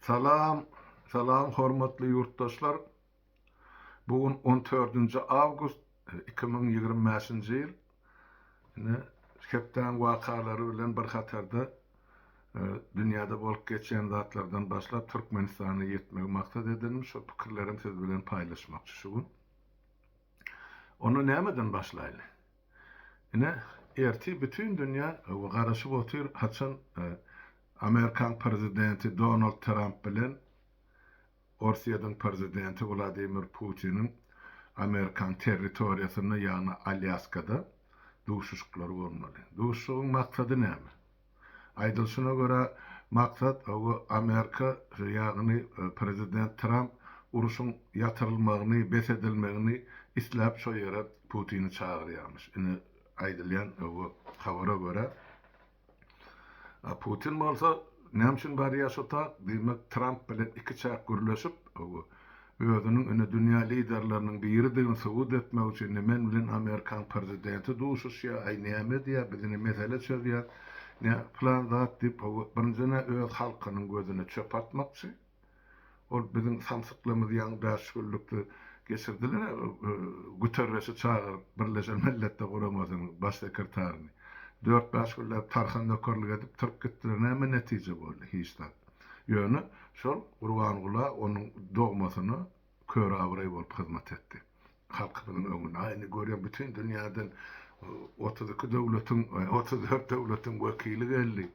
Salam, salam hormatly ýurtdaşlar! Bu gün on dördünji awgust iki müň ýigrimi bäşinji ýyl. Ine, hepdäň wakalary bilen bir hatarda e, dünýäde bolup geçýän zatlardan başlap Türkmenistana ýetmegi maksat edindim. Şol pikirlerimi siz bilen paýlaşmakçy şu gün. Onda nämeden başlaýly? Ine ertir bütün dünya garaşyp otyr haçan Amerikan prezidenti Donald Tramp bilen Orsyýediň prezidenti Wladimir Putiniň Amerikan territoriýasynda ýagny Alýaskada duşuşyklary bolmaly. Duşuşygyň maksady näme? Aýdylyşyna görä, maksat Amerika, ýagny prezident Tramp urşuň ýatyrylmagyny, bes edilmegini isläp şo ýere Putini çagyrýarmyş. Ine, aýdylýan habara görä, Putin bolsa näme üçin barýar şo tak, diýmek Tramp bilen ikiçäk gürleşip, özüniň indi dünýä liderleriniň biridigini subut etmek üçin ne men bilen amerikan prezidenti duşuşýar, aý näme edýär, bizine mesele çözýär, ne plan zat diýip birinjiden-ä öz halkynyň gözüne çöp atmakçy. Ol biziň samsyklygymyzy ýaňy bäş günlükde geçirdiler-ä, Guterreşi çagyryp, Birleşen Milletler Guramasynyň baş sekretaryny. Dört-bäş günläp tarha nökerlik edip turup gitdiler, näme netije boldy? Hiç zat. Ýöne şol Gurbangula onuň dogmasyna kör abraý bolup hyzmat etdi. Halkymyzyň öňünde, aý, indi görýän bütin dünýäden otuz iki döwletiň, otuz dört döwletiň wekili geldi.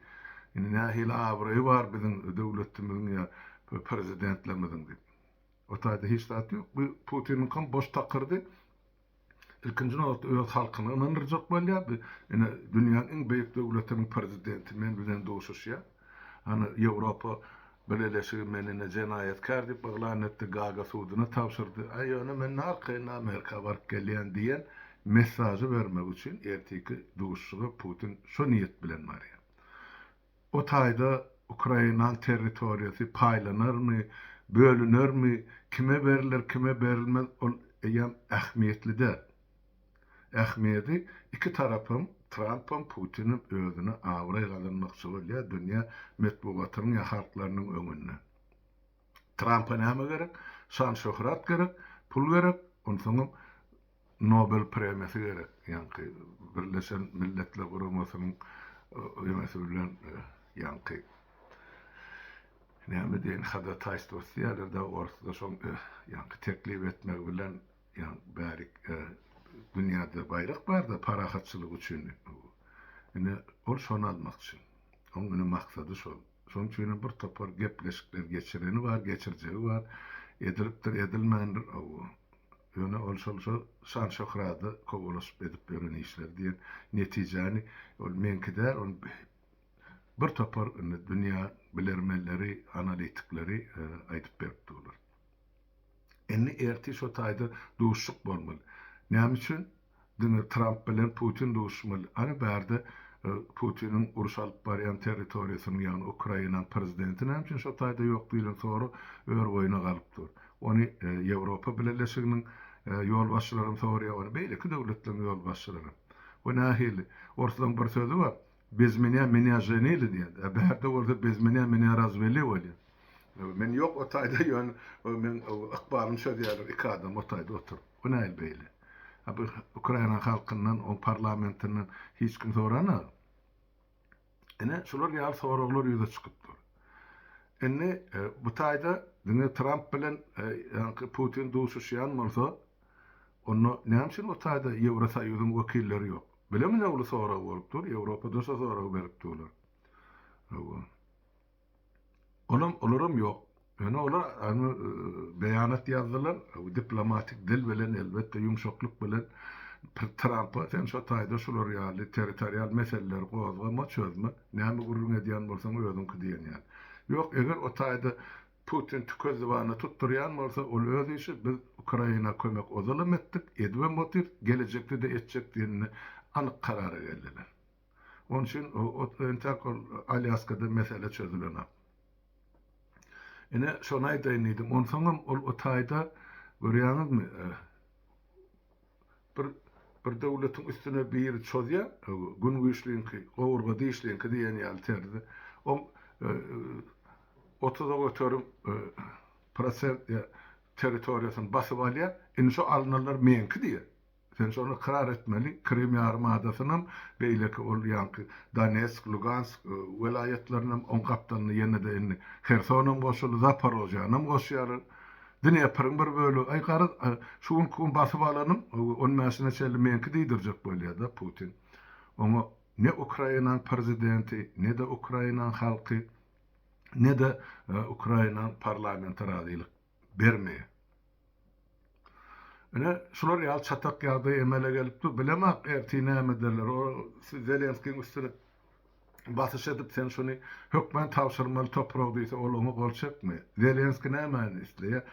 Indi nähili abraýy bar biziň döwletimiziň ýa prezidentlerimiziň diýip. O taýda hiç zat ýok. Bu Putiniňkam boş takyrdy. ilkinji nobatda öz halkyny ynandyrjak bolýar, bi ine dünýäniň iň beýik döwletiniň prezidenti men bilen duşuşýar, hany Ýewropa Bileleşigi meni ine jenaýatkär diýip yglan etdi, Gaga suduna tabşyrdy, a ýöne men narkaýyn Amerika baryp gelýän diýen messažy bermek üçin ertiki duşuşyga Putin şo niýet bilen barýar. O taýda Ukraina territoriýasy paýlanarmy, bölünermi, kime beriler, kime berilmez, ol eýýäm ähmiýetli däl. Ähmiýedi iki tarapam, Trampam, Putinim özüne abraý gazanmakçy bolýar dünýä metbugatynyň ýa halklarynyň öňünde. Trampa näme gerek? Şan-şöhrat gerek, pul gerek, onsoňam Nobel premiýasy gerek ýaňky Birleşen Milletler Guramasynyň ýöňesi bilen ýaňky näme diýen hadataýstwosy diýýärler dagy orsda şoň ýaňky teklip etmegi bilen ýaň bärik dünýäde baýrak barda parahatçylyk üçin ine ol şony almakçy oň ine maksady şol şoň üçin hem bir topar gepleşikler geçireni bar geçirjegi bar edilipdir edilmändir Ýöne ol şol şo şan-şöhrada kowalaşyp edip ýören işleri diýen netijäni ol meňki däl, ony bir topar indi dünýä bilermenleri, analitikleri aýdyp beripdi olar. Indi ertir şo taýda duşuşyk bolmaly. Näme üçin? Diňe Tramp bilen Putin duşmaly. Ana bärde Putiniň uruş alyp barýan territoriýasynyň ýagny Ukraina prezidenti näme üçin şo taýda ýok diýlen soru örboýuna galyp dur. Ony Ýewropa bileleşiginiň ýolbaşçylaram sorýar, ony beýleki döwletleriň ýolbaşçylaram. Bu nähili? Orslaň bir sözi bar, Bez menä menä ženili diýýärdi. A bärde bolsa bez menä menä razweli bolýar. Men ýok o taýda ýöne meň ykbalym çözýärler iki adam o taýda oturyp. Bu nähili beýle? A bu Ukraina halkyndan oň parlamentinden hiç kim soranok. Ine şular ýaly soraglar ýüze çykyp dur. Indi bu taýda diňe Tramp bilen ýaňky Putin duşuşýan bolsa onda näme üçin o taýda Ýewrosoýuzyň wekilleri ýok? Bile minowly sorag bolup dur ýewropadan şo soragy berip durlar hawa olam olaram ýok ýöne olar ony beýanat ýazdylar bu diplomatik dil bilen elbetde ýumşaklyk bilen Trampa sen şo taýda şular ýaly territorial meseleleri gozgama çözme näme gürrüň edýän bolsaň özüňki diýen ýaly ýok eger o taýda Putin tüke zybany tutdurýan bolsa ol öz işi biz Ukraina kömek ozalam etdik edibem otyrs gelejekde de etjek diýende anyk karara geldiler. Oň üçin entäk ol Alýaskada mesele çözülenok. Ine şony aýdaýyn diýdim onsoňam ol o taýda görýäňizmi Bir bir döwletiň üstüne biri çozýa, Gün güýçliňki, Gowurga dişliňki diýen ýaly terzde. Oň otuza göterim prosent ýa territoriýasyny basyp alýa, indi şo alynanlar meňki diýýä. Sen şony ykrar etmeli, Krym ýarymadasynam, beýleki ol ýaňky Donetsk, Lugansk welaýatlarynam oň gapdalyna ýene-de indi Hersonam goşuldy, Zaporozýanam goşýarlar. Dnepriň bir bölegi, Aý, garaz, şu günki gün basyp alanyň on bäşine çenli meňki diýdirjek bolýa-da Putin. Oňa ne Ukrainanyň prezidenti, ne-de Ukrainanyň halky, ne-de Ukrainanyň parlamenti razylyk bermeýär. Ine, şular ýaly çatak ýagdaý emele gelip dur. Bilemok, ertir näme ederler. Ol Zelenskiň üstüne basyş edip sen şuny hökman tabşyrmaly toprag diýse ol oňa gol çekmeýär. Zelenski nämäni isleýär?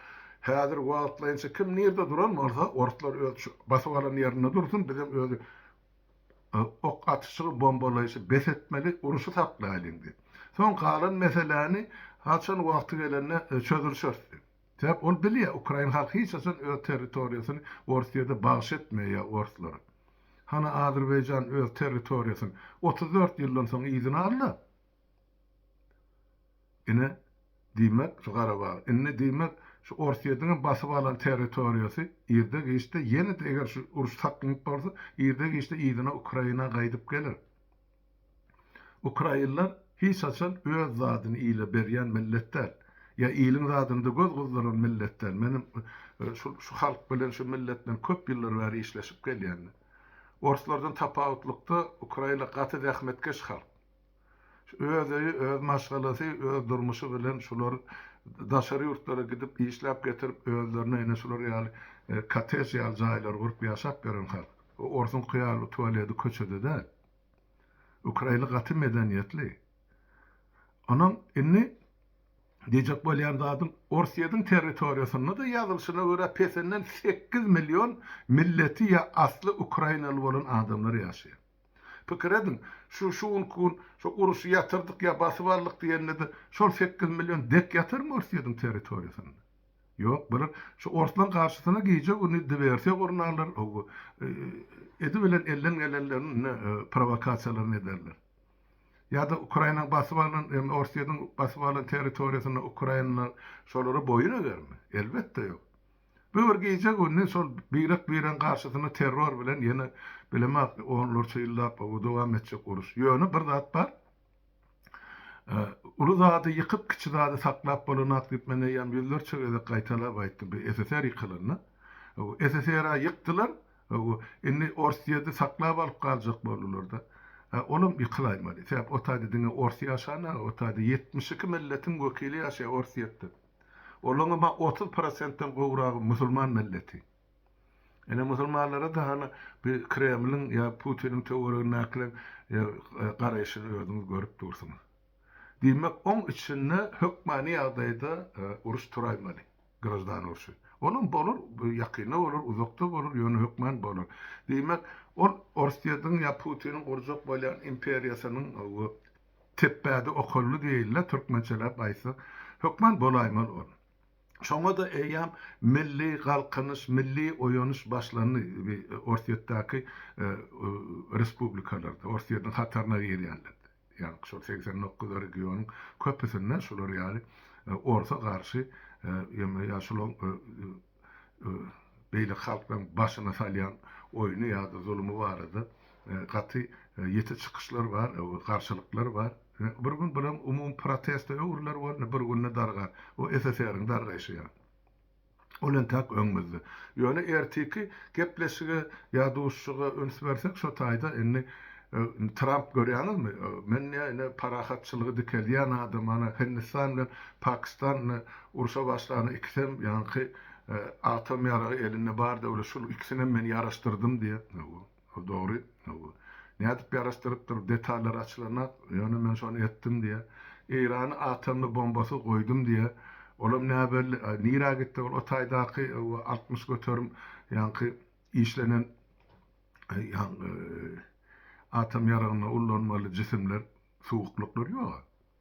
Häzir wagtlaýynça kim nirde duran bolsa orslar öz şu basyp alan ýerinde dursun bizem öz ok atyşygy bombalaýşy bes etmeli uruşy saklaýlyň diýip. Soň galan meseläni haçan wagty gelende çözülişeris diýip. Sebäp ol bilýär, ukrain halky hiç haçan öz territoriýasyny Orsýede bagş etmeýär orslara. Hany Azerbaýjan öz territoriýasyny otuz dört ýyldan soň yzyna aldy. Ine, diýmek, şu Garabag, indi diýmek, şu Orsýediň hem basyp alan territoriýasy irde-giçde ýene-de eger şu uruş saklanýp bolsa, irde-giçde yzyna Ukraina gaýdyp geler. Ukrainler hiç haçan öz zadyny ile berýän millet däl. Ýa iliň zadyna-da göz gyzdyran millet däl. Menem şu şu halk bilen, şu millet bilen köp ýyllar bäri işleşip gelýän. Orslardan tapawutlykda ukrainler gaty zähmetkeş halk. Öz öýi, öz maşgalasy, öz durmuşy bilen şular daşary ýurtlara gidip işläp getirip özlerine ine şular ýaly kottej ýaly jaýlary gurup ýaşap ýören halk. Orsuňky ýaly tualedi köçede däl. Ukraina gaty medeniýetli. Onuň indi diýjek bolýan zadym, Orsýetiň territoriýasynda-da ýazylyşyna görä pesenden sekiz million milleti ýa asly ukrainaly bolan adamlar ýaşaýar. Pikir ediň, şu şu günki gün şu uruşy ýatyrdyk ýa basyp aldyk diýende-de şol sekiz million dek ýatarmy Orsýetiň territoriýasynda? Ýok bir şu orslaň garşysyna gije güni diwersiýa gurnarlar o edi bilen elden gelenlerini prowakasiýalaryny ederler. Ýada Ukrainaň basyp alan hem Orsýediň basyp alan territoriýasynda Ukrainalar şolara boýun egermi? Elbetde ýok. Bu bir gije güni şol birek bireň garşysyna terror bilen ýene bilemok onlarça ýyllap dowam etjek uruş. Ýöne bir zat bar. Uly zady ýykyp, kiçi zady saklap bolanok diýip men eýýäm ýüzlerçe gezek gaýtalap aýtdym. Bu SSR ýykylanda, SSR-ä ýykdylar, indi Orsýedi saklap alyp galjak boldular-da. Olam ýykylaýmaly. Sebäp o taýda diňe ors ýaşan-a, o taýda ýetmiş iki milletiň wekili ýaşaýar Orsýetde. Olaňam-a otuz prosentden gowragy musulman milleti. Ine musulmanlara da hany bi kremliň ýa putiniň töweregindäkileň garaýşyny özüňiz görüp dursuňyz. Diýmek oň içinde hökmany ýagdaýda uruş turaýmaly, graždan urşy. Onam bolar ýakynda bolar uzakda bolar ýöne hökman bolar. Diýmek ol orsyýediň ýa putiniň gurjak bolýan imperiýasynyň bu tepbädi okally diýeýinle türkmençeläp aýtsak hökman bolaýmaly ol. Şoňa-da eýýäm milli galkynyş, milli oýanyş başlandy. Orsýetdäki respublikalarda, Orsýetiň hataryna girýänlerde, ýagny şol segsen dokuz regionyň köpüsinde şular ýaly orsa garşy ýa-da ýa şular beýleki halklaryň başyna salýan oýny ýa-da zulümi barada gaty ýiti çykyşlar bar, garşylyklar bar. Bir gün bulam umumy protesta öwrüler bolny bir günde dargar. O SSR-iň dargaýşy ýa. Ol entäk öňümizde. Ýöne ertiki gepleşige ýa duşuşyga üns bersek şo taýda indi Tramp görýäňizmi men ýa indi parahatçylygy dikeldýän adam ana Hindistan bilen Pakistan indi urşa başlany ikisem ýaňky atom ýaragy elinde bar döwlet şul ikisinem men ýaraşdyrdym diýýä. Ol dogry. Nädip ýaraşdyrypdyr, detallary açylanok. Ýöne men şony etdim diýýär. Eýrany atomly bombasyz goýdum diýýär. Olam näbelli. A nirä gitdi ol o taýdaky altmyş göterim ýaňky işlenen atom ýaragyny ullanmaly jisimler, suwuklyklar ýog-a.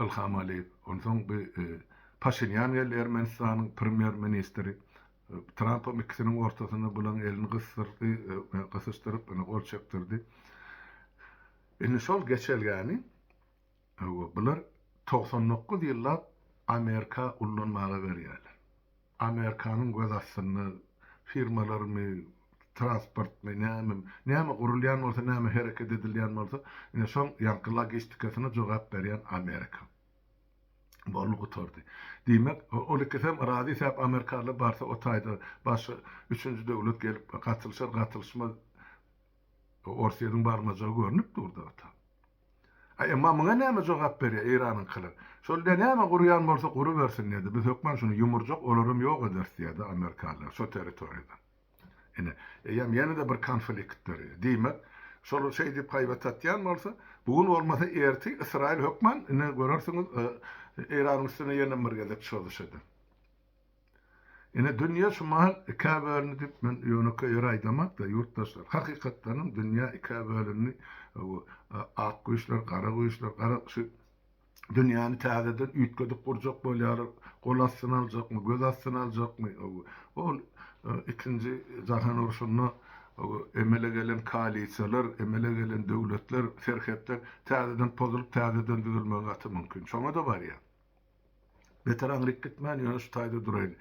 Ilham Aliýew, onsoň bi Paşinýan geldi, Ermenistanyň premýer ministri. Trampam ikisiniň ortasynda bulaň elini gysdyrdy, gysyşdyryp, ine, gol çekdirdi. Indi şol geçelgäni bular togsan dokuz ýyllap Amerika ullanmaga berýärler. Amerikanyň göz astynda firmalarmy, transportmy, nämemi, näme gurulýan bolsa, näme hereket edilýän bolsa, ine, şoň ýaňky logistikasyna jogap berýän Amerika. Boldy, gutardy. Diýmek, ol ikisem razy sebäp amerikalylar barsa o taýda başga üçünji döwlet gelip gatylyşar, gatylyşmaz, Orsýetiň barmajagy görnüp dur-da ota. A emma muňa näme jogap berýär Eýranyňkylar? Şol diýýär, näme gurýan bolsa gurubersin diýýär-de, biz hökman şuny ýumurjak, olaram ýok ederis diýýär-de amerikalylar şo territoriýadan. Ine, eýýäm ýene-de bir konflikt dörýär. Diýmek, şolar şeýdip haýbat atýan bolsa, bu gün bolmasa ertir Ysraýyl hökman, ine görersiňiz, Eýranyň üstüne ýene bir gezek çozuş eder. Ine dünýe şu mahal ikä bölündi diýip men ýönekeý ýere aýdamak-da ýurtdaşlar. Hakykatdanam dünýe ikä bölündi. Ak güýçler, gara güýçler, gara şu dünýäni täzeden üýtgedip gurjak bolýarlar. Gol astyna aljakmy, göz astyna aljakmy? Ol ikinji jahan urşunda emele gelen koalisiýalar, emele gelen döwletler, serhetler täzeden pozulyp, täzeden düzülmegi gaty mümkin. Şoňa-da barýar. Beter aňryk gitmän, ýöne şu taýda duraýyn.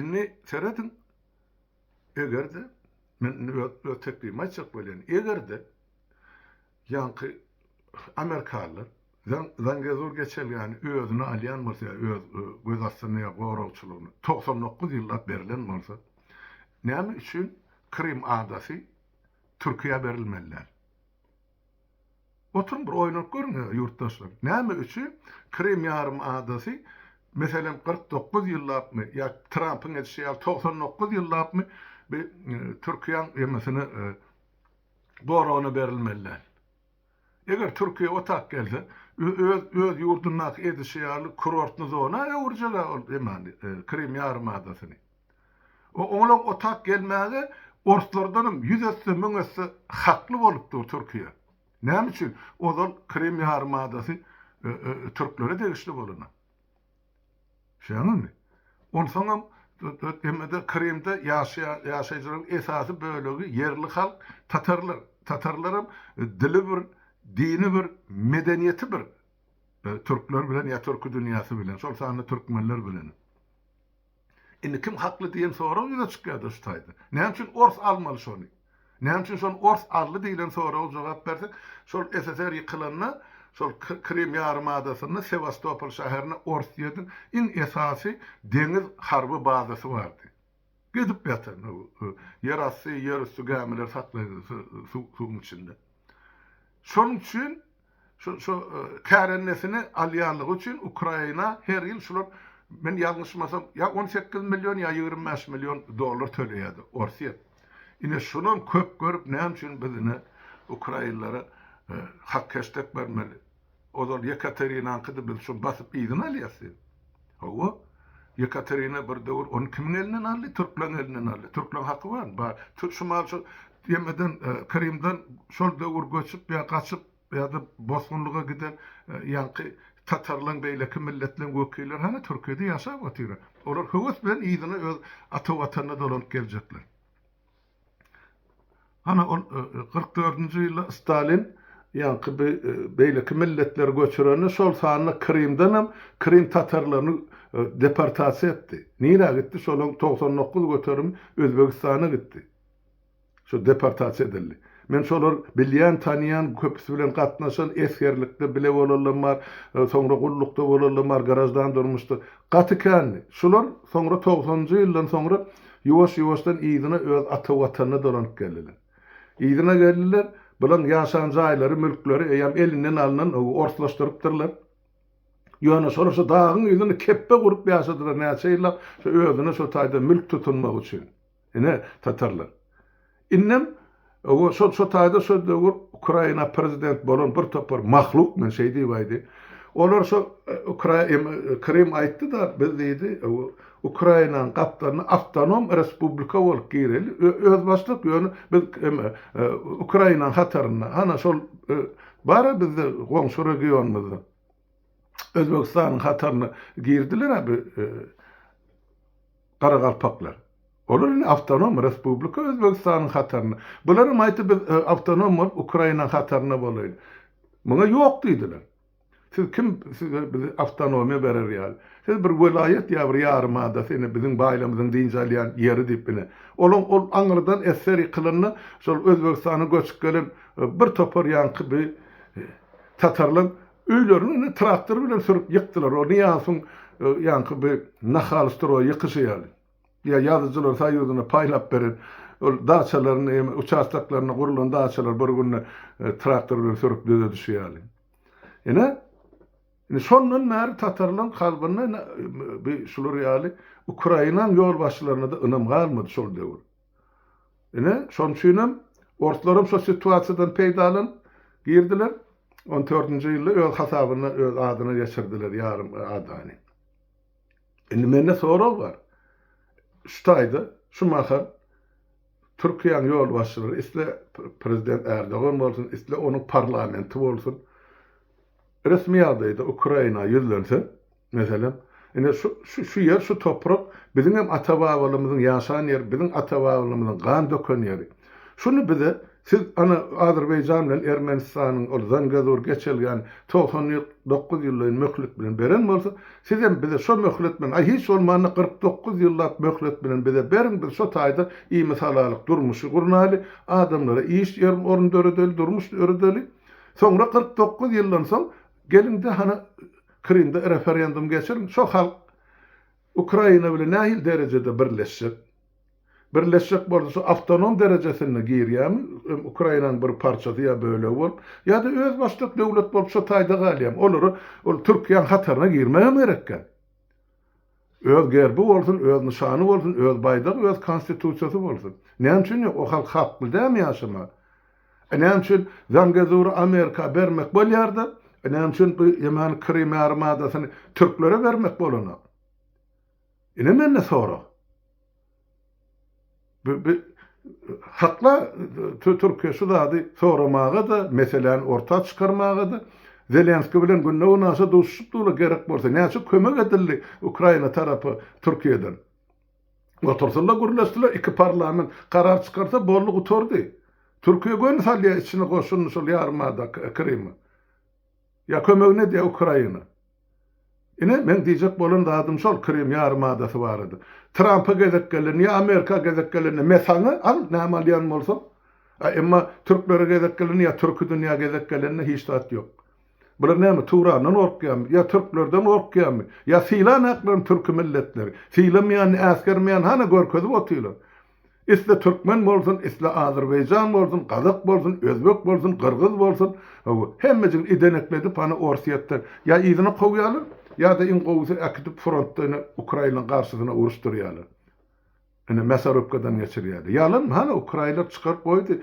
Indi serediň, eger-de, men indi öz teklibimi aýtjak bolýan, eger-de, ýaňky amerikalylar Zangezur geçelgäni özüne alýan bolsa ýa öz göz astynda ýa goragçylygyna togsan dokuz ýyllap berlen bolsa, näme üçin Krym adasy Türkiýä berilmeli däl? Oturyň bir oýlanyp görüň ýurtdaşlar, näme üçin Krym ýarym adasy meselem kyrk dokuz ýyllapmy ýa Trampyň edişi ýaly togsan dokuz ýyllapmy bi Türkiýäň emisine goragyna berilmeli däl. Eger Türkiýä otak gelse öz öz ýurdundaky edişi ýaly kurortny zona öwürjegä ol emani Krym ýarym adasyny. Oňlag otap gelmäge orslardanam ýüz esse, müň esse hakly bolup dur Türkiýe. Näme üçin? Ozal Krym ýarymadasy türklere degişli bolana. Düşýäňizmi? Onsoňam emede Krymda ýaşaýan ýaşaýjylaryň esasy bölegi ýerli halk tatarlar. Tatarlaram dili bir, dini bir, medeniýeti bir türkler bilen ýa türki dünýäsi bilen, şol sanda türkmenler bilen. Indi kim hakly diýen sorag ýüze çykýarda şu taýda. Näme üçin ors almaly şony? Näme üçin şony ors aldy diýlen soraga jogap bersek, şol SSR ýykylanda şol Krym ýarym adasynda Sewastopol şäherinde Orsýediň iň esasy deňiz harby bazasy bardy. Gidip ýatan ýer asty, ýer üsti gämileri saklaýdy suwuň içinde. Şonuň üçin Şu kärendesini alýanlygy üçin Ukraina her ýyl şular, men ýalňyşmasam, ýa on sekiz million, ýa ýigrimi bäş million dollar töleýärdi Orsýet. Ine, şunam köp görüp, näme üçin biz ine ukrainlere hak-heşdek bermeli? Ozal Ýekaterinanyňkydy, biz şuny basyp yzyna alýas diýip. Hawa, Ýekaterina bir döwür ony kimiň elinden aldy? Türkleriň elinden aldy. Türkleriň haky barmy? Bar. Şumal şu ýemeden, Krymdan şol döwür göçüp ýa gaçyp ýa-da bosgunlyga giden ýaňky tatarlaryň, beýleki milletleriň wekilleri hany Türkiýede ýaşap otyra. Olar höwes bilen yzyna öz ata watanyna dolanyp geljekler. Hany ol kyrk dördünji ýylda Stalin ýaňky bi beýleki milletleri göçürende şol sanda Krymdanam Krym tatarlaryny deportasiýa etdi. Nirä gitdi şolaň togsan dokuz göterimi Özbegistana gitdi. Şo deportasiýa edildi. Men şolar bilýän tanýan köpüsi bilen gatnaşan esgerlikde bile bolanlam bar soňra gullukda bolanlam bar graždan durmuşda. Gaty kändi. Şular soňra togsanjy ýyldan soňra Ýuwaş-ýuwaşdan yzyna öz ata Watanyna dolanyp geldiler. Yzyna geldiler, bulaň ýaşan jaýlary, mülkleri eýýäm elinden alnan, ogy orslaşdyrypdyrlar. Ýöne şolar şu dagyň ýüzüni kepbe gurup ýaşadylar näçe ýyllap, şo özüne şo taýdan mülk tutunmak üçin. Ine, tatarlar. Indem we şol şo taýda şo döwür Ukraina prezident bolan bir topar mahluk men şeý diýibaýdy. Olar şo Ukra em Krym aýtdy-da biz diýdi we Ukrainanyň gapdalyna awtonom respublika bolup gireli we özbaşdak ýöne biz em Ukrainanyň hatarynda hana şol bara bizde goňşy regionymyzda Özbegistanyň hataryna girdiler-ä bi Garagalpaklar. Olar indi awtonom respublika Özbegistanyň hatarynda. Bular hem aýtdy, biz awtonom bolup Ukrainaň hatarynda bolaýyl. Muňa ýok diýdiler. Siz kim size bizi awtonomiýa berer ýaly. Siz bir welaýat ýa bir ýarym ada seni biziň baýlamyzyň dynç alýan ýeri diýip ine. Olaň ol aňyrdan eseri kylynda şol Özbegistana göçüp gelen bir topar ýaňky bi tatarlaň Öýlerini indi traktor bilen sürüp ýykdylar. Ony ýaňsyň ýaňky bi nahal stroý ýykyşy ýaly. Ýa ýazyjylar soýuzyna paýlap beren ol daçalaryny ýa uçastoklaryna gurlan daçalary bir günde traktor bilen sürüp düzedişi ýaly. Ine, indi şondan bäri tatarlaryň kalbynda indi bi şular ýaly Ukrainaň ýolbaşçylaryna-da ynam galmady şol döwür. Ine, şonuň üçin hem orslaram şo situasiýadan peýdalanyp girdiler. On dördünji ýylda öz hasabyna, öz adyna geçirdiler ýarym adany. Indi mende sorag bar. Şu taýda, şu mahal Türkiýäň ýolbaşçylary, isle prezident Erdogan bolsun, isle onuň parlamenti bolsun, Resmi ýagdaýda Ukraina ýüzlense, meselem, ine şu, şu, şu ýer, şu toprak biziň hem ata-babalarymyzyň ýaşan ýeri, biziň ata-babalarymyzyň gan döken ýeri. Şuny bize siz, ana, Azerbaýjan bilen Ermenistanyň ol Zangezur geçelgäni togsan ýyl, dokuz ýyllygyny möhlet bilen beren bolsa, siz hem bize şo möhlet bilen, aý, hiç bolmanda kyrk dokuz ýyllap möhlet bilen bize beriň, biz şo taýda iýmit alalyk, durmuşy gurnaly, adamlara iş ýer, orun döredeli, durmuş döredeli. Soňra kyrk dokuz ýyldan soň geliňde hany Krymda referendum geçiriň, şo halk Ukraina bilen nähili derejede birleşjek? Birleşjek bolsa şo awtonom derejesinde girýämi, hem Ukrainanyň bir parçasy ýa bölegi bolup, ýa-da özbaşdak döwlet bolup şo taýda galýamy? Olara ol Türkiýäň hataryna girmegem gerek kän. Öz gerbi bolsun, öz nyşany bolsun, öz baýdagy, öz konstitusiýasy bolsun. Näme üçin ýok? O halk hakly dämi ýaşamaga? E näme üçin Zangezury Amerika bermek bolýar-da, e näme üçin bu ýemany Krym ýarym adasyny türklere bermek bolanok? Ine mende sorag. Hakda Türkiýe şu zady soramaga-da, meseläni orta çykarmaga-da, Zelenski bilen Gündogar-Aşa duşuşypdylar, gerek bolsa, näçe kömek edildi Ukraina tarapa Türkiýeden. Oturdylar, gürleşdiler, iki parlament karar çykarsa, boldy, gutardy. Türkiýe göni salýar içine goşunyny şol ýarymada, Krymy. Ýa kömegi ne diýýä Ukraina? Ine, meň diýjek bolan zadym şol Krym ýarym adasy barada. Trampa gezek gelende ýa Amerika gezek gelende me saňa al näme alýan bolsaň. A emma türklere gezek gelende ýa türki dünýä gezek gelende hiç zat ýok. Bular näme Turandan gorkýamy? Ýa türklerden gorkýamy? Ýa sylan aklaryn türki milletleri? Sylamaýan äsgermeýän hana görkezip otyrlar. Isle türkmen bolsun, isle azerbaýjan bolsun, gazak bolsun, özbek bolsun, gyrgyz bolsun, hawa, hemmejigini idenekledi pany Orsýetden ýa yzyna kowýarlar, ýa-da iň gowusy äkidip frontda ine ukraýynyň garşysyna uruşdyrýarlar. Ine mäsorobkadan geçirýärler. Ýalanmy? Hany ukraýylar çykaryp goýdy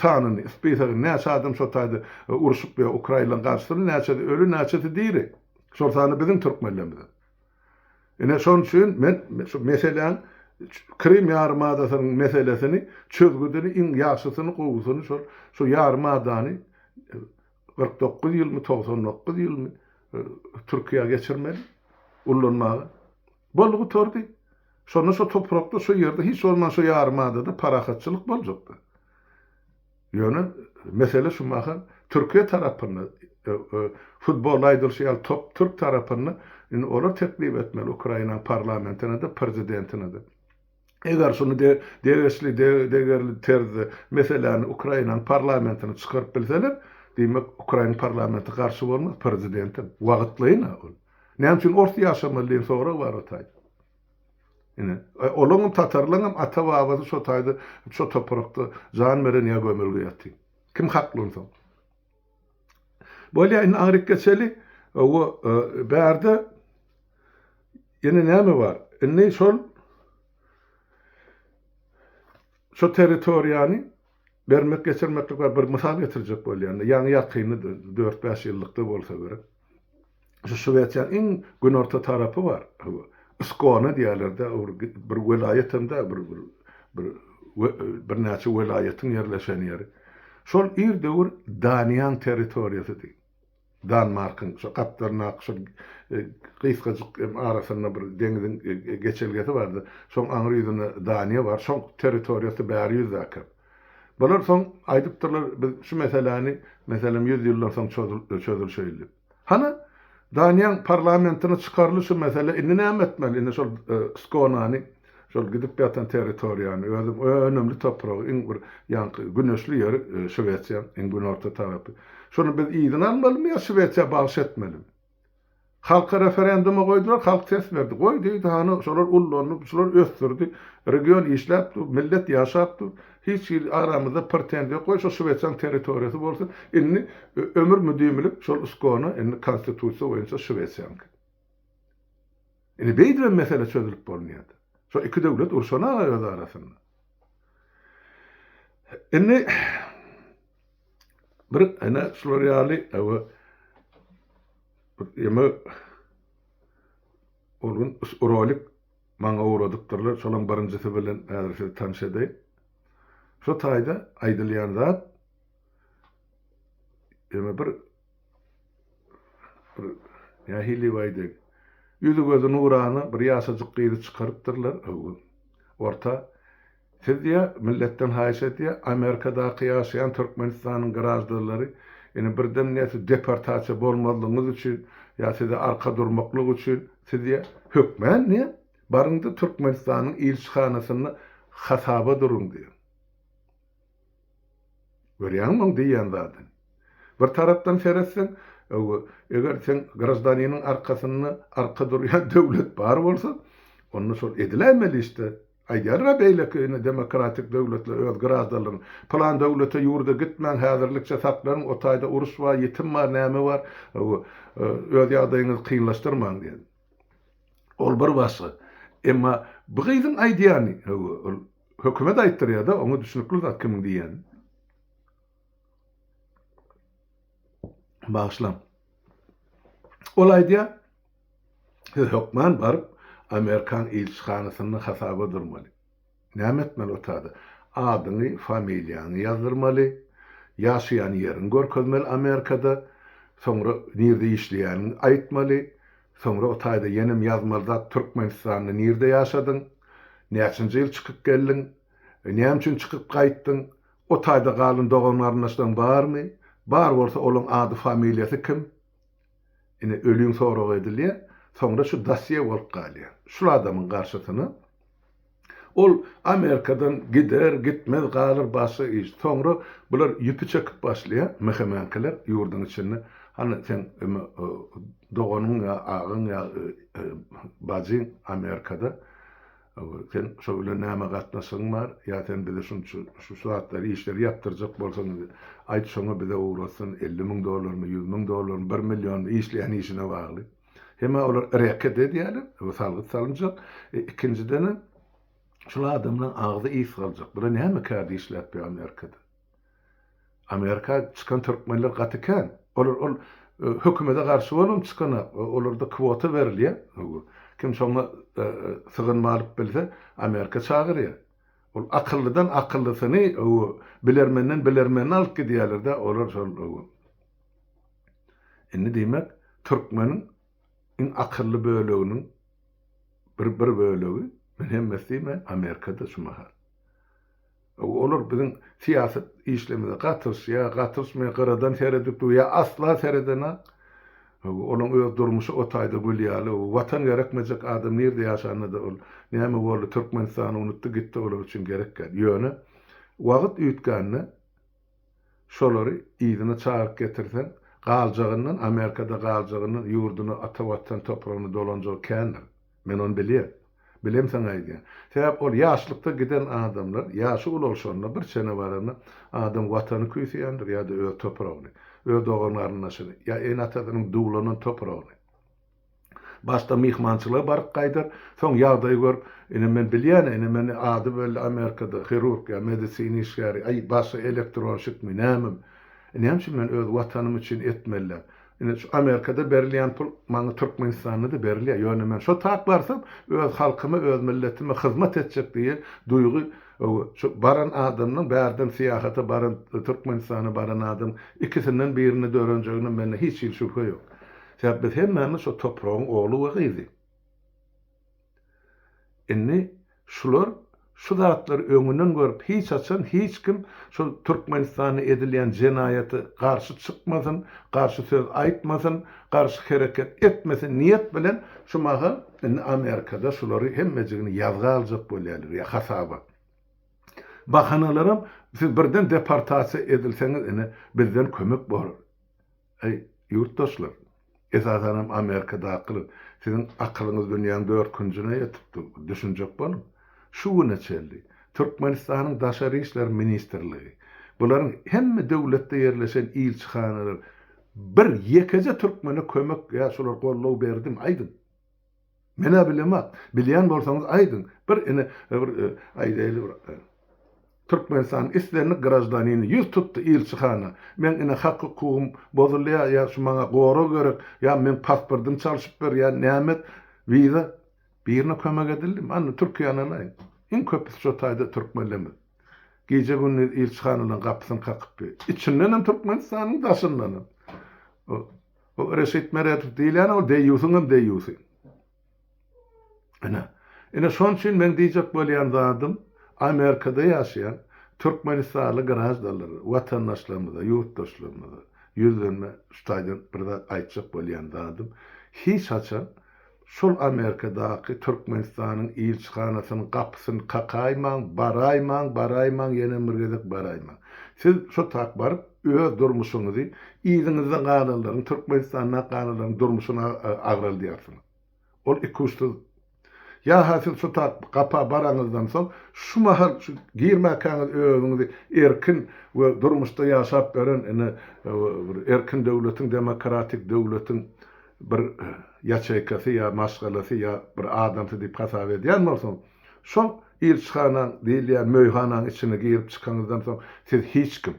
sanyny, spisagyny, näçe adam şo taýda urşup ýa ukraýylaryň garşysynda näçesi öli, näçesi diri. Şol sanda biziň türkmenlerimiz hem. Ine şon üçin men şu meseläň Krym ýarymadasynyň meselesini çözgüdini iň ýagşysyny gowusyny şol şu ýarymadany kyrk dokuz ýylmy togsan dokuz ýylmy Türkiýä geçirmeli ullanmaga. Boldy gutardy. Şonda şo toprakda şo ýerde hiç bolman şo ýarymadada parahatçylyk boljakdy. Ýöne mesele şu mahal Türkiýe tarapynda. Futbolda aýdylyşy ýaly top türk tarapynda. Indi olar teklip etmeli Ukrainanyň parlamentine-de, prezidentine-de. Eger şuny degişli, degerli terzde meseläni Ukrainanyň parlamentine çykaryp bilseler, diýmek, Ukraina parlamenti garşy bolmaz, prezidentem. Wagtlaýyn-a ol. Näme üçin ors ýaşamaly diýen sorag bar Hytaýda. Ine, olaňam, tatarlaňam ata-babasy şo taýda, şo toprakda jan beren ýa gömülge ýaty. Kim hakly onsoň? Bolýa, indi aňryk geçeli. Owo, bärde ýene näme bar? Indi şol, şo territoriýany Bermek geçirmeklik bar, bir mysal getirjek bolýanda, ýaňy ýakynda dört-bäş ýyllykda bolsa gerek, şu Şwesiýanyň iň günorta tarapy bar, Skone diýerler-de, bir welaýat hem däl, bir bir birnäçe welaýatyň ýerleşen ýeri. Şol ir döwür Daniýaň territoriýasydy. Danmarkyň şo gapdalyndaky şo gysgajyk hem arasynda bir deňiziň geçelgesi bardy. Şoň aňry ýüzünde Daniýa bar. Şoň territoriýasy bäri ýüzdäki. Bular soň aýdypdyrlar, biz şu meseläni, meselem, ýüz ýyldan soň çözülşeýin diýip. Hany, Daniýaň parlamentine çykarly şu mesele, indi näme etmeli? Indi şol Skonany Şol gidip ýatan territoriýany, özüň önümli topragy, iň bir ýaňky güneşli ýeri Şwesiýa, iň günorta tarapy. Şony biz yzyna almalymy ýa Şwesiýa bagyş etmelimi? Halka referenduma goýdular, halk ses berdi. Goý diýdi, hany şolar ullandy, şular ösdürdi, region işläp dur, millet ýaşap dur. Hiç hili aramyzda pretenziýa ýok. Goý şo Şwesiýanyň territoriýasy bolsun. Indi ömür müdimilik şol Skona, indi konstitusiýa boýunça Şwesiýanyňky. Indi beýdibem mesele çözülip bolmaýardy. Şo iki döwlet urşana-a öz arasynda. Indi bir ene şular ýaly ewe ýeme ol gün rolik maňa ugradypdyrlar. Şolaň birinjisi bilen häzir sizi tanyş edeýin. Şo taýda aýdylýan zat ýeme bir Bir nähili baýdy, ýüzi-gözi nurana bir ýaşajyk gyzy çykarypdyrlar, öwgün. Orta. Siz diýýär, milletden haýyş edýär, Amerikadaky ýaşaýan Türkmenistanyň graždanlary, ýene birden näçe deportasiýa bolmazlygyňyz üçin ýa size arka durmaklyk üçin, siz diýýär, hökmän diýýär, baryň-da Türkmenistanyň ilçihanasynda hasaba duruň diýýär. Görýäňmi oň diýýän zadyny? Bir tarapdan seretseň, eger seň graždaniniň arkasynda arka durýan döwlet bar bolsa, onda şol ediläýmeli iş-de. Aýdýarlar-a beýleki ine demokratik döwletler öz graždanlaryna, Pylan döwlete, ýurda gitmäň, häzirlikçe saklanyň, o taýda uruş bar, ýitim bar, näme bar, öz ýagdaýyňyzy kynlaşdyrmaň diýen. Ol bir başga. Emma bu gyzyň aýdýany, ol Hökümet aýtdyrýada oňa düşnükli zat kimiň diýýäni. Bagyşlaň. Ol aýdýa siz hökman baryp Amerikan ilçihanasyna hasaba durmaly. Näme etmeli o tada? Adyňy, familiýaňy ýazdyrmaly, ýaşaýan ýeriňi görkezmeli Amerikada, soňra nirde işleýäniňi aýtmaly. Soňra o taýda ýenem ýazmaly zat Türkmenistanda nirde ýaşadyň? Näçinji ýyl çykyp geldiň? Näme üçin çykyp gaýtdyň? O taýda galan dogan-garyndaşlaryň barmy? Bar bolsa olaň ady familiýasy kim? Ine ölüň soragy edilýär. Soňra şu dosýe bolup galýar. Şul adamyň garşysyna. Ol Amerikadan gider, gitmez galar başga iş. Soňra bular ýüpi çekip başlaýar, mehemenkeler ýurduň içinde, Hany, seň doganyň ýa agaň ýa bajyň Amerikada, seň şo bilen näme gatnaşygyň bar? Ýa sen bize şunça şu zatlary, işleri ýapdyrjak bolsaň, aýt, şoňa bize ugratsyn, elli müň dollarmy, ýüz müň dollarmy, bir millionmy, işleýän işine bagly. Hemä olar reket edýärler, bu salgyt salynjak. E, ikinjidenem şul adamlaryň agzy is galjak. Bula näme kärde işläp be Amerikada? Amerika çykan türkmenler gaty kän. Olar ol e, hökümete garşy bolam çykanak, e, olarda kwota berilýär. Kim şoňa e, sygynma alyp bilse, Amerika çagyrýar. Ol akyllydan akyllysyny, bilermenden bilermenini alyp gidýärler-de, olar şol Indi diýmek, türkmeniň iň akylly böleginiň bir bir bölegi, men hemmesi diýmeýän, Amerikada şu mahal. Olar biziň syýasy işlerimize gatyryşýar, gatyryşmaýar, gyradan seredip dur, ýa asla seredenok. Olaň öz durmuşy o taýda gül ýaly. Watan gerekmejek adam nirde ýaşanda-da ol näme boldy, Türkmenistany unutdy gitdi, olar üçin gerekýär. Ýöne wagt üýtgände, Şolary yzyna çagyryp getirseň, galjagyndan, Amerikada galjagyndan, ýurduna, ata Watan topragyna dolanjagy kändir. Men ony bilýän. Bilemsoň aýdýan. Sebäp ol ýaşlykda giden adamlar, ýaşy ulalşanda, bir çene baranda adam Watany küýseýändir ýa-da öz topragyny, öz dogan-garyndaşyny, ýa ene-atasynyň duwlanan topragyny. Başda myhmançylyga baryp gaýdar, soň ýagdaýy görüp, Ine men bilýän-ä, ine men ady belli Amerikada hirurg ýa medisina işgäri, aý, başy elektronşikmi, nämemi? Näme üçin men öz Watanym üçin etmelidäl? Ine, şu Amerikada berilýän pul maňa Türkmenistanda-da berilýär, ýöne men şo tak barsam, öz halkyma, öz milletime hyzmat etjek diýen duýgy öw, şu baran adamynyň, bärden syýahata baran, Türkmenistana baran adamyň ikisinden birinde dörenjegine mende hiç hili şübhe ýok. Sebäbi biz hemmämiz şo topragyň ogly we gyzy. Indi şular şu zatlary öňünden görüp, hiç haçan hiç kim şol Türkmenistanda edilýän jenaýata garşy çykmasyn, garşy söz aýtmasyn, garşy hereket etmesin niýet bilen şu mahal indi Amerikada şulary hemmejigini ýazga aljak bolýarlar ýa hasaba. Bahanalaram siz birden deportasiýa edilseňiz ine bizden kömek bolar. Eý, ýurtdaşlar! Esasan hem Amerikadakylar! Siziň akylyňyz dünýäň dört künjüne ýetip dur. Düşünjek boluň! Şu güne çenli Türkmenistanyň Daşary işler ministrligi, bularyň hemme döwletde ýerleşen ilçihanalar bir ýekeje türkmene kömek ýa şular goldaw berdimi? Aýdyň! Men-ä bilemok. Bilýän bolsaňyz aýdyň. Bir ine, bir aýdaýly bir Türkmenistanyň islendik graždanini ýüz tutdy ilçihana. Meň ine hak-hukugym bozulýar ýa şu maňa gorag gerek, ýa meň pasportymy çalşyp ber, ýa näme et, wiza. Birine kömek edildimi? Anna Türkiýäni alaýyň. Iň köpüsi şo taýda türkmenlerimiz. Gije-gündiz ilçihanalaryň gapysyny kakyp ýör. Içindenem Türkmenistanyň, daşyndanam. Bu Reşit Meredow diýilýän ol deýýusyň hem deýýusy. Ine, ine şon üçin meň diýjek bolýan zadym Amerikada ýaşaýan türkmenistanly graždanlara, watandaşlarymyza, ýurtdaşlarymyza ýüzlenme şu taýdan bir zat aýtjak bolýan zadym hiç haçan Şol Amerikadaky Türkmenistanyň ilçihanasynyň gapysyny kakaýmaň, baraýmaň, baraýmaň, ýenem bir gezek baraýmaň. Siz şo tak baryp, öz durmuşyňyzy, yzyňyzda galanlaryň, Türkmenistanda galanlaryň durmuşyny agraldýarsyňyz. Ol ikuçsyz. Ýa-ha siz şo tak gapa baraňyzdan soň, şu mahal şu girmäkäňiz özüňizi erkin we durmuşda ýaşap beren, ine, bir erkin döwletiň, demokratik döwletiň, bir ýaçeýkasy ýa maşgalasy ýa bir adamsy diýip hasap edýän bolsaň, şol ilçihanaň diýilýän möýhanaň içine girip çykaňyzdan soň siz hiç kim.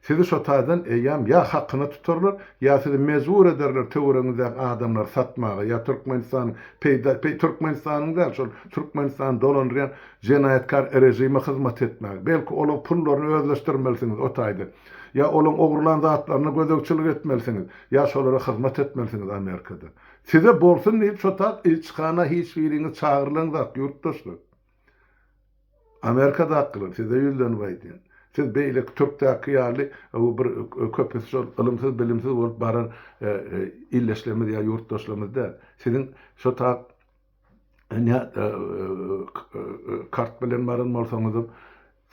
Sizi şo taýdan eýýäm ýa hakyna tutarlar, ýa sizi mejbur ederler töweregiňizdäki adamlary satmaga ýa Türkmenistanyň peýda peý Türkmenistanyň däl şol Türkmenistany dolandyrýan jenaýatkar režime hyzmat etmäge. Belki olaň pullaryny özleşdirmelisiňiz o taýdan. Ýa olaň ogurlan zatlaryna gözegçilik etmelisiňiz, ýa şolara hyzmat etmelisiňiz Amerikada. Size bolsun diýip şo tat ilçihana hiç biriňiz çagyrylaňzak ýurtdaşlar. Amerikadakylar size ýüzlenip aýdýan. Siz beýleki türkdäki ýaly bu bir köpüsi şol ylymsyz bilimsiz bolup baran illeşlerimiz ýa ýurtdaşlarymyz däl. Siziň şo tat. Ine, kart bilen baran bolsaňyzam,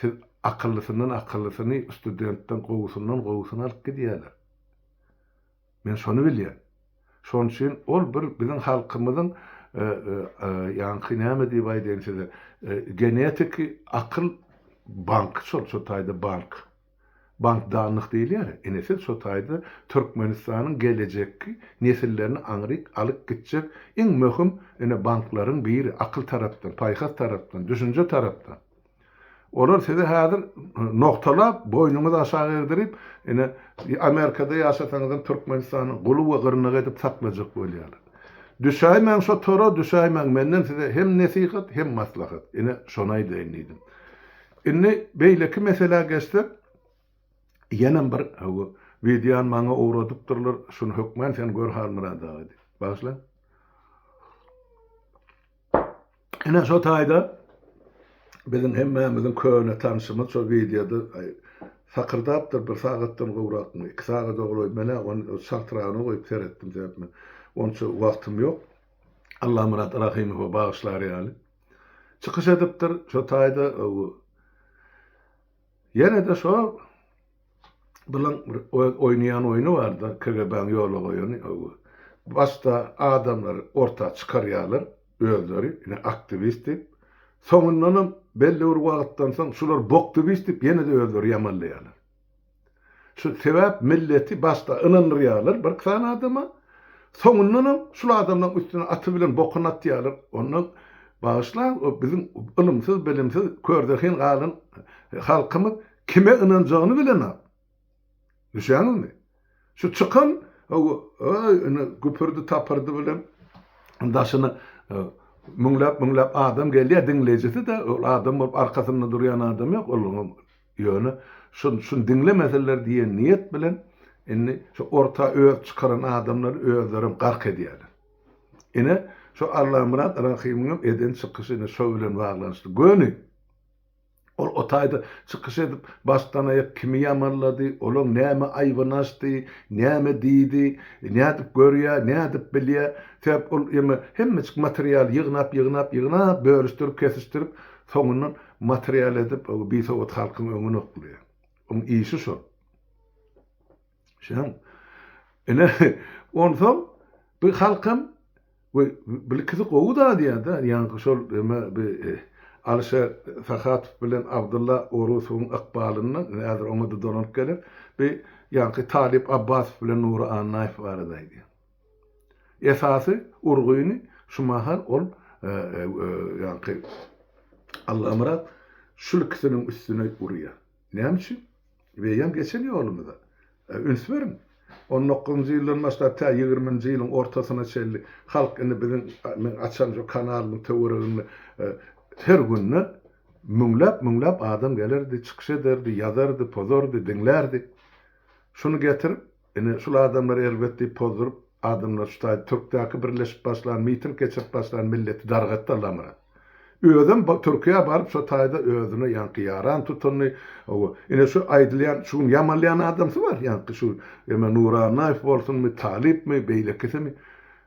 siz akyllysyndan akyllysyny, studentden gowusyndan gowusyny alyp gidýärler. Men şony bilýän. Şonuň üçin ol bir biziň halkymyzyň, ýaňky näme diýip aýdaýyn size, genetiki akyl banky şol şu taýda bank. Bankdanlyk diýilýär, ine siz şo taýda Türkmenistanyň gelejekki nesillerini aňryk alyp gitjek iň möhüm ine banklaryň biri, akyl tarapdan, paýhas tarapdan, düşünje tarapdan. Olar sizi häzir nogtalap, boýnuňyzy aşak egdirip, ine Amerikada ýaşasaňyzam Türkmenistanyň guly we gyrnagy edip saklajak bolýarlar. Düşäýmäň şo tora, düşäýmäň, menden size hem nesihat, hem maslahat. Ine şony aýdaýyn diýdim. Indi beýleki meselä geçsek, ýenem bir hawa, wideony maňa ugradypdyrlar, şuny hökmän sen gör Halmyrat aga diýip. Bagyşlaň. Ine şo taýda biziň hemmämiziň köne tanşymyz şo wideoda sakyrdapdyr bir sagatdan gowrakmy, iki sagada golaý. Men-ä ony çaltragyna goýup seretdim, sebäp men onça wagtym ýok. Allamyrat Rahymowa bagyşlar ýaly. çykyş edipdir. Şo taýda ýene-de şo bulan bir öz oýnaýan oýny bar-da, KGB-niň ýola goýany. Başda adamlary orta çykarýarlar, özleri ine aktiwist diýip. Soňundanam belli bir wagtdan soň şular boktibist diýip ýene-de özleri ýamanlaýarlar. Şu sebäp milleti başda ynandyrýarlar birki sany adama, soňundanam şul adamlaryň üstüne aty bilen bokuny atýarlar. Onda bagyşlaň, o biziň ylymsyz, bilimsiz, körzehin galan halkymyz kime ynanjagyny bilenok. Düşýäňizmi? Şu çykan indi güpürdi-tapyrdy bilen daşyna müňläp-müňläp adam gelýär, diňleýjisi-de ol adam bolup arkasynda durýan adam ýok olaryň. Ýöne şun şun diňlemeseler diýen niýet bilen indi şu orta öz çykaran adamlary özlerem gark edýäler. Ine şu Allamyrat Rahymyňam eden çykyşy ine şo bilen baglanyşly. Göni ol o taýda çykyş edip başdan aýak kimi ýamanlady, olaň näme aýbyny açdy, näme diýdi, nädip görýär, nädip bilýär. Sebäp ol ýeme hemmeçik materialy ýygnap ýygnap ýygnap bölüşdirip kesişdirip soňundan Material edip o bisowat halkyň öňüne okly. Oň işi şol. Şoň ine onsoň bu halkam we bilkisi gowy da diýada ýaňky şol eme bi Alişer Sahatow bilen Abdylla Orusowyň ykbalyndan ine häzir oňa-da dolanyp geler bi ýaňky Talyp Abbasow bilen Nury Annaýew barada aýdýar. Esasy urgyny şu mahal ol ýaňky Allamyrat şul ikisiniň üstüne urýar. Näme üçin? Beýem geçen ýolumyza üns beriň. On dokuzynjy ýyldan başlap tä ýigriminji ýylyň ortasyna çenli halk indi biziň meň açan şu kanalymyň töwereginde her günde müňläp müňläp adam gelerdi, çykyş ederdi, ýazardy, pozardy, diňlärdi. Şuny getirip Ine, şul adamlar erbet diýip pozduryp, adamlar şu taý Türkdäki birleşip başlan, miting geçirip başlan milleti dargatdy Allamyrat. Özem Türkiýä baryp şo taýda özüne ýaňky ýaran tutundy. Hawa, ine şu aýdylýan, şu gün ýamalýan adamsy bar, ýaňky şu eme Nurannaýew bolsunmy, Talypmy, beýlekisimi,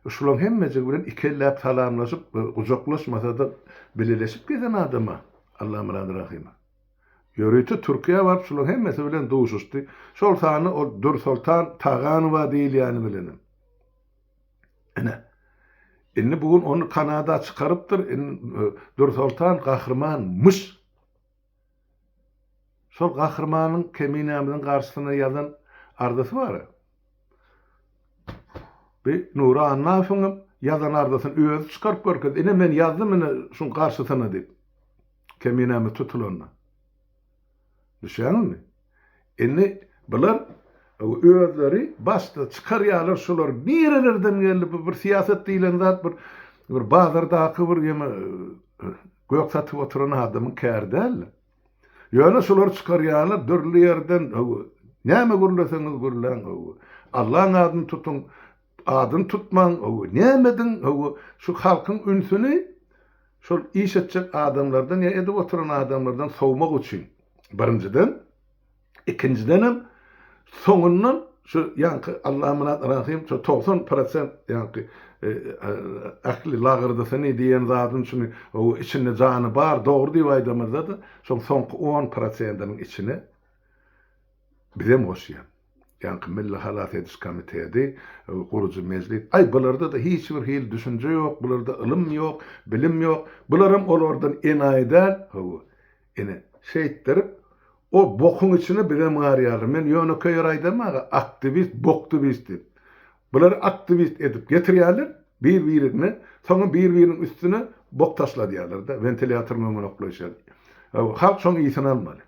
şulaň hemmejigi bilen iki elläp salamlaşyp, gujaklaşmasa-da bileleşip gezen adam-a Allamyrat Rahymow. Ýörite Türkiýä baryp şularyň hemmesi bilen duşuşdy. Şol sanda ol Dürsoltan Taganowa diýilýäni bilenem. Ine. Indi bu gün ony Kanada çykarypdyr. Indi Dürsoltan gahryman myş. Şol gahrymanyň Keminämiziň garşysyna ýazan arzasy bar. Bi Nury Annafowyňam ýazan arzasyny özi çykaryp görkezdi. Ine men ýazdym ine şuň garşysyna diýip. Keminämiz tutulanda. Düşýäňizmi? Indi bular özleri başda çykarýarlar şular nirelerden geldi bu bir syýasat diýlen zat bir bir bazardaky bir ýene gök satyp oturan adamyň käri däl. Ýöne şular çykarýarlar dürli ýerden näme gürleseňiz gürläň. Allaň adyny tutuň Adyny tutmaň hawa näme ediň hawa şu halkyň ünsüni şol iş etjek adamlardan ýa edip oturan adamlardan sowmak üçin birinjiden ikinjidenem soňundan şu ýaňky Allamyrat Rahym şu togsan prosent ýaňky ähli lagyrdysyny diýen zadyny şuny hawa içinde jany bar dogry diýip aýdamyzda-da şoň soňky on prosentiniň içine bizem goşýan. Ýaňky Milli halas ediş komitedi, gurujy mejlis, Aý, bularda-da hiç bir hili düşünje ýok, bularda ylym ýok, bilim ýok, bularam olardan enaýy däl, hawa, ine, şeýtdirip, o bokuň içine bizem garýarlar. Men ýönekeý ýeri aýdamok-a, aktiwist, boktiwist diýip. Bulary aktiwist edip getirýärler, bir-birigni, soňam bir-biriniň üstüne bok taşladýarlar-da, wentilýatoryň öňüne oklaýşýarlar. Hawa, halk şoň ysyn almaly.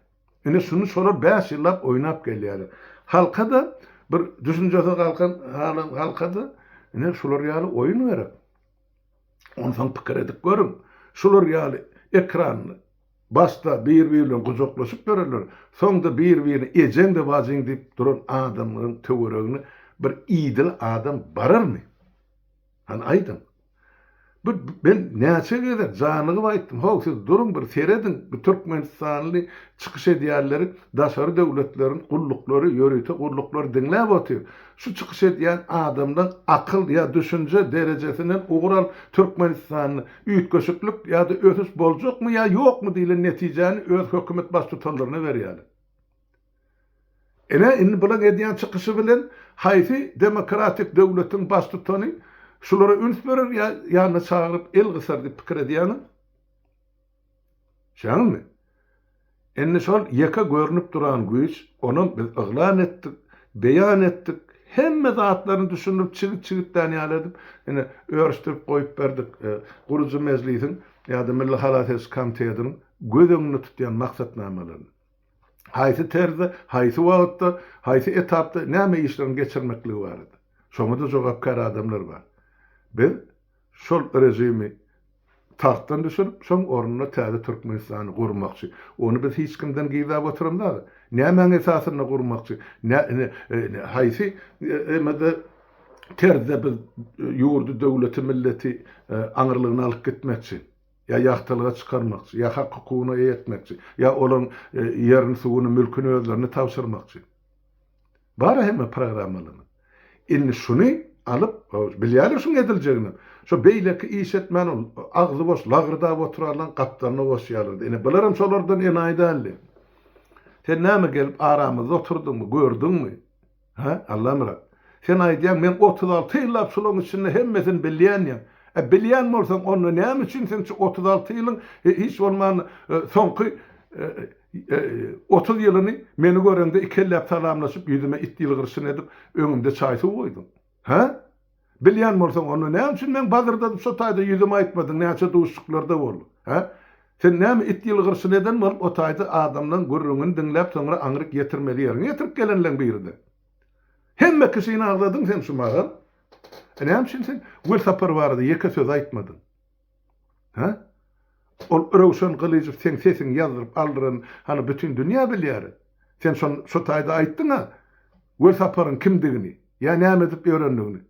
Ine şuny şolar bäş ýyllap oýnap gelýärler. Halka-da bir düşünjesiz galkan halan halka-da ine şular ýaly oýun gerek. Onsoň pikir edip görüň. Şular ýaly ekran başda bir-biri bilen gujaklaşyp ýörenler, soňda bir-birine ejeň-de bajyň diýip duran adamlaryň töweregine bir idil adam bararmy? Hany aýdyň. Bu men näçe gezek janygyp aýtdym, how siz duruň bir serediň, bu türkmenistanly çykyş edýänleri daşary döwletleriň gulluklary, ýörite gulluklary diňläp otyr. Şu çykyş edýän adamdan akyl ýa düşünje derejesinden ugur alyp türkmenistanda üýtgeşiklik ýa-da ösüş boljakmy ýa ýokmy diýlen netijäni öz hökümet baştutanlaryna berýäler. Ine, indi bulan edýän çykyşy bilen haýsy demokratik döwletiň baştutany şulara üns berer ýa ýanyna çagyryp el gysar diýip pikir edýäňiz? Şeňňiňizmi? Indi şol ýeke görnüp duran güýç, onam biz yglan etdik, beýan etdik, hemme zatlaryny düşündirip çigit-çigitlän ýaly edip, ine, örüşdirip goýup berdik. Gurujy mejlisiň ýa-da Milli halas ediş komitetiniň göz öňünde tutýan maksatnamalaryny. haýsy terzde, haýsy wagtda, haýsy etapda näme işleriň geçirmekligi barada. Şoňa-da jogapkär adamlar bar. Biz şol režimi tagtdan düşürip, şoň ornuna täze Türkmenistany gurmakçy. Ony biz hiç kimden gizläp oturamzada. Nämäň esasynda gurmakçy? Haýsy emede, terzde biz ýurdy, döwleti, milleti aňyrlygyna alyp gitmekçi? ýa ýagtylyga çykarmakçy, ýa hak hukugyna eýe etmekçi, ýa olaryň ýerini, suwuny, mülküni özlerine tabşyrmakçy. Bar-a hemme programmalarymyz. Indi şuny alyp, bilýärler şunuň ediljegini. Şo beýleki iş etmän ol agzy boş lagyrdap oturanlaryň gapdalyna goşýarlardy. Ine, bularym şolardan enaýy däldi. Sen näme gelip aramyzda oturdyňmy, gördüňmi? Hä, Allamyrat? Sen aýdýaň, men otuz alty ýyllap şulaň içinde hemmesini bilýän diýýäň. E, bilýän bolsaň, onda näme üçin sen şu otuz alty ýylyň, hiç bolmanda, soňky otuz ýylyny meni göreňde ikelläp salamlaşyp, ýüzüme it ýylgyryşyny edip, öňümde çaý-suw goýduň? Hä? Bilýän bolsaň, onda näme üçin meň bazyrdadyp şo taýda ýüzüme aýtmadyň, näçe duşuşyklarda boldyk? Hä? Sen näme it ýylgyrşyny eden bolup o taýda adamlaň gürrüňini diňläp soňra aňryk ýetirmeli ýeriňe ýetirip gelenleň biride. Hemme kişini agzadyň sen şu mahal. Näme üçin sen Welsapar barada ýeke söz aýtmadyň? Hä? Ol Röwşen Gylyjow seň sesiňi ýazdyryp aldyran hany bütin dünýä bilýär. Sen şon şo taýda aýtdyň-a Welsaparyň kimdigini, ýa näme edip ýörendigini.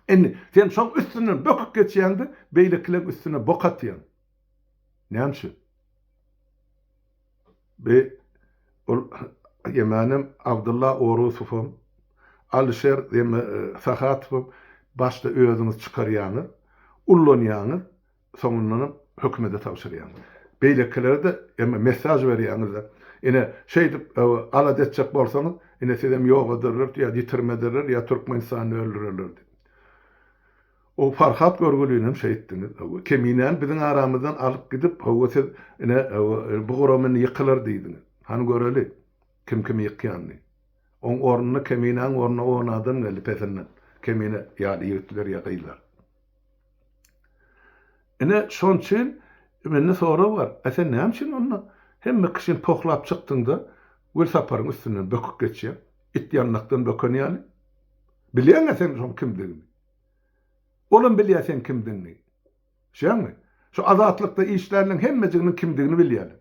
Indi sen şoň üstünden böküp geçýäň-de, beýlekileň üstüne bok atýaň. Näme üçin? Bi ol Ýemänem, Abdylla Orusowam, Alyşer Sahatowam başda özüňiz çykarýaňyz, ullanýaňyz, soňundanam hökümede tabşyrýaňyz. Beýlekilere-de emma messaž berýäňiz-de. Ine, şeýdip alada etjek bolsaňyz, ine sizem ýok ederler, ýa ýitirme ederler, ýa Türkmenistany öldürerler diýip. O Farhat görgülinem şeýtdiňiz, hawa, Keminäni biziň aramyzdan alyp gidip, hawa, siz, ine, hawa, bu guraam indi ýykylar diýdiňiz. Hany göreli, kim kimi ýykýanyny. Oň ornuna, Keminäň ornuna on adam geldi pesinden, Kemine ýaly ýigitler ýa gyzlar. Ine, şon üçin mende sorag bar, a sen näme üçin onda hemme kişini pohlap çykdyň-da, Gülsaparyň üstünden böküp geçýäň, it ýandakdan böken ýaly? Bilýäň-ä sen şoň kimdigini. Olam bilýär seň kimdigiňi. Şeýdäňmi? Şu Azatlykda işlänleň hemmejiginiň kimdigini bilýärler.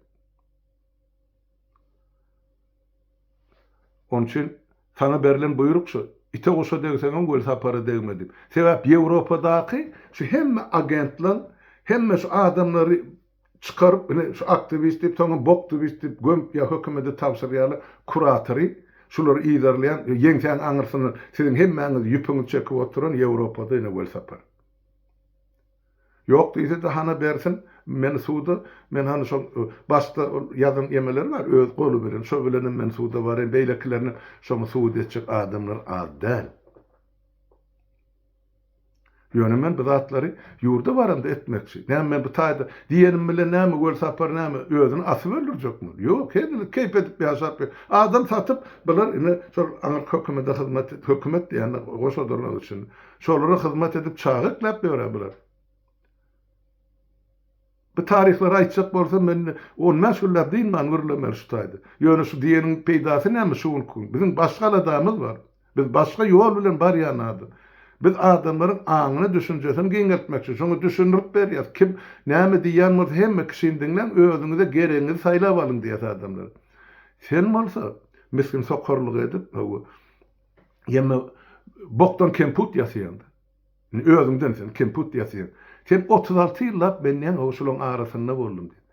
Onuň üçin saňa berlen buýruk şu, ite-guşa degseňem Welsapara degme diýip. Sebäp Ýewropadaky şu hemme agentlaň, hemme şu adamlary çykaryp ine şu aktiwist diýip soňam boktiwist diýip gömüp ýa hökümede tabşyrýarlar kuratory şulary yzarlaýan ýeňsäň aňyrsyna siziň hemmäňiz ýüpüňiz çekip oturan ýewropada ine welsapar ýok diýsede hana bersin meni suda men hany şol başda ýazan ýemeleri bar öz goly bilen şo bilenem men suda baraýyn beýlekilerinem şoňa subut etjek adamlar az däl. Ýöne men bu zatlary ýurda baramda etmekçi. Näme men bu taýda diýenim bilen näme Welsapar näme özüni asyp öldürjekmi? Ýok, henilik keýp edip ýaşap ýör. Adam satyp bular ine şol aňryk hökümede hyzmat et, hökümet diýende goşadyrlar içinde. Şolara hyzmat edip çaga ekläp ýörä bular. Bu taryhlary aýtjak bolsam, men on bäş günläp dynman gürlemeli şu taýda. Ýöne şu diýeniň peýdasy näme şu günki? Biziň başga aladamyz bar. Biz başga ýol bilen barýan adam. Biz adamlaryň aňyny, düşünjesini giňeltmekçi. Şoňa düşündirip berýäs. Kim näme diýýän bolsa, hemme kişini diňläň, özüňize geregiňizi saýlap alyň diýýäs adamlara. Sen bolsa, misgin sokarlyk edip, hawa, ýeme bokdan kemput ýasaýaň-da. Indi özüňden sen kemput ýatyň. Sen otuz alty ýyllap men näme bu şulaň arasynda boldum diýip.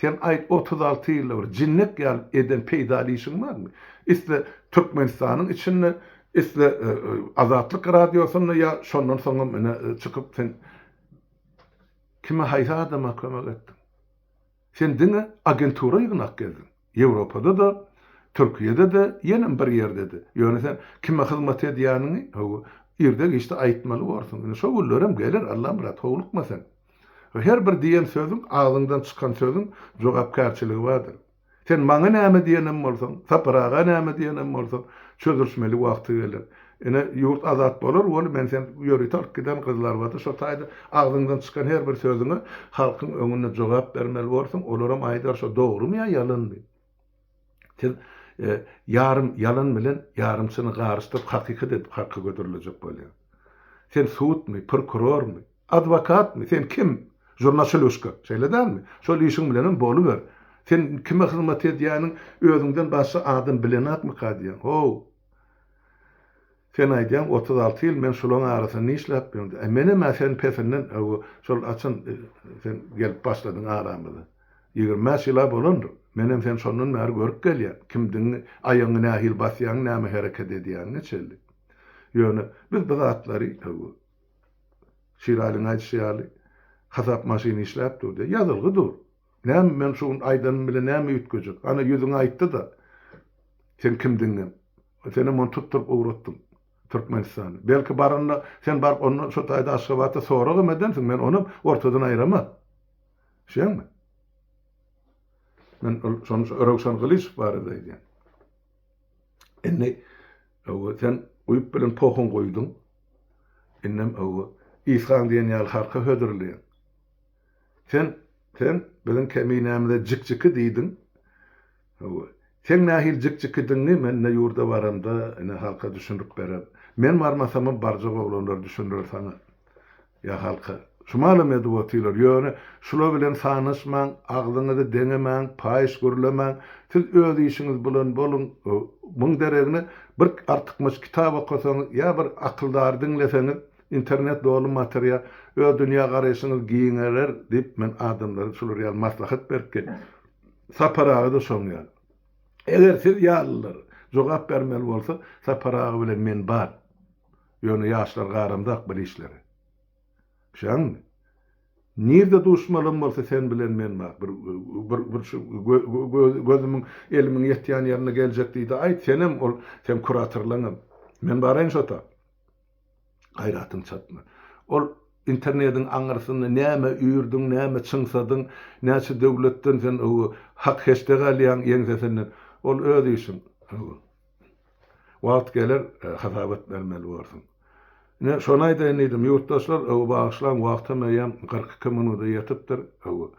Sen aýt otuz alty ýylda bir jinnek ýaly eden peýdaly işiň barmy? Isle Türkmenistanyň içinde isle Azatlyk radiosynda ýa şondan soňam ine çykyp sen kime haýsy adama kömek etdiň? Sen diňe agentura ýygnak geldiň. Ýewropada-da, Türkiýede-de, ýenem bir ýerde-de. Ýöne sen kime hyzmat edýäniňi, hawa, irde-giçde aýtmaly borsuň. Indi şo günlerem geler, Allamyrat, howlukma sen. Her bir diýen sözüň, agzyňdan çykan sözüň jogapkärçiligi bardyr. Sen maňa näme diýenem bolsaň, Sapar aga näme diýenem bolsaň, çözülişmeli wagty geler. Ine, ýurt azat bolar weli men sen ýörite alyp giden gyzlarbady, şo taýda agzyňdan çykan her bir sözüňe halkyň öňünde jogap bermeli borsuň, olaram aýdar şo dogrymy ýa ýalanmy? Siz ýarym ýalan bilen ýarym çyny garyşdyryp hakykat edip halka göderilejek bolýaň. Sen sudmy, prokurormy, adwokatmy, sen kim? Žurnaçyluşka, şeýle dälmi? Şol işiň bilenem boluber. Sen kime hyzmat edýäniň özüňden başga adam bilenakmyka diýýän. Ho! Sen aýdýaň otuz alty ýyl men şulaň arasynda nişläp ýörün diýip. Menem-ä sen pesinden öw şol açan sen gelip başladyň aramyza. Ýigrimi bäş ýyla bolandyr. Menem sen şondan bäri görüp gelýän. Kimdigiňi, aýagyňy nähili basýaň, näme hereket edýäňiňi çenli. Ýöne biz bu zatlary öw Şiralyň aýdyşy ýaly hasap maşyny işläp dur diýýär. Ýazylgy dur. Näme, men şu gün aýdanym bilen näme üýtgejek? Ana, ýüzüňi aýtdy-da, sen kimdigiňem. Senem ony tutduryp ugratdyň Türkmenistana. Belki, baranda, sen baryp ondan şo taýda Aşgabatda soragam edersiň, men onam ortadan aýraman. Eşidýäňmi? Men ol şony Röwşen Gylyjow barada aýdýan. Indi, hawa, sen guýup bilen pohuň guýduň. Indem, hawa, Ishaň diýen ýaly halka hödürleýäň. Sen, sen biziň Keminämize jik-jiki diýdiň. Hawa. Seň nähili jik-jikidigiňi men ine ýurda baramda, ine halka düşündirip bererin. Men barmasamam barjak oglanlar düşündirer saňa. Ýa halka. Şu malam edip otyrlar. Ýöne şular bilen sanaşmaň, agzyňyzy deňemäň, paýyş gürlemäň. Siz öz işiňiz bilen boluň. Muň deregine bir artykmaç kitap okasaňyz ýa bir akyldary diňleseňiz. Internet doly materiýa, öz dünýä garaýşyňyz giňerer diýip men adamlara şular ýaly maslahat berip gelýän. Sapar aga-da şoň ýaly. Eger siz ýalylar jogap bermeli bolsa, Sapar aga bilen men bar. Ýöne ýaşlar garamzak bir işlere. Düşäňmi? Nirde duşmalam bolsa sen bilen men bar. Bir bir bir şu gözümiň elimiň ýetýän ýerine geljek diýde aýt, senem ol seň kuratorlaňam. Men baraýyn şo tak. Gaýratyň çatma. Ol internediň aňyrsynda näme üýrdiň, näme çyňsadyň, näçe döwletden sen öwü hak-heçde galýaň ýeňsesinden. Ol öz işiň. Öwü. Wagt geler, hasabat bermeli borsuň. Ine, şony aýdaýyn diýdim. Ýurtdaşlar, öwü bagyşlaň, wagtam eýýäm kyrk iki minuda ýetipdir. Öwü.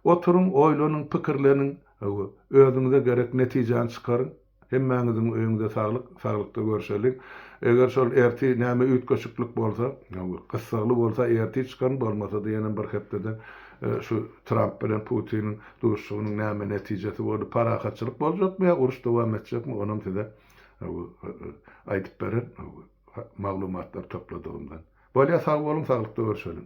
Oturyň, oýlanyň, pikirleniň. Öwü. Özüňize gerek netijäni çykaryň. Hemmäňiziň öýüňize saglyk, saglykda görüşeliň. Eger şol ertir näme üýtgeşiklik bolsa, gyssagly bolsa ertir çykan, bolmasa-da ýene bir hepdede şu Tramp bilen Putiniň duşuşygynyň näme netijesi boldy, parahatçylyk boljakmy ýa uruş dowam etjekmi, onam size aýdyp berer maglumatlar topladygymdan. Bolýa sag boluň, saglykda görüşeliň.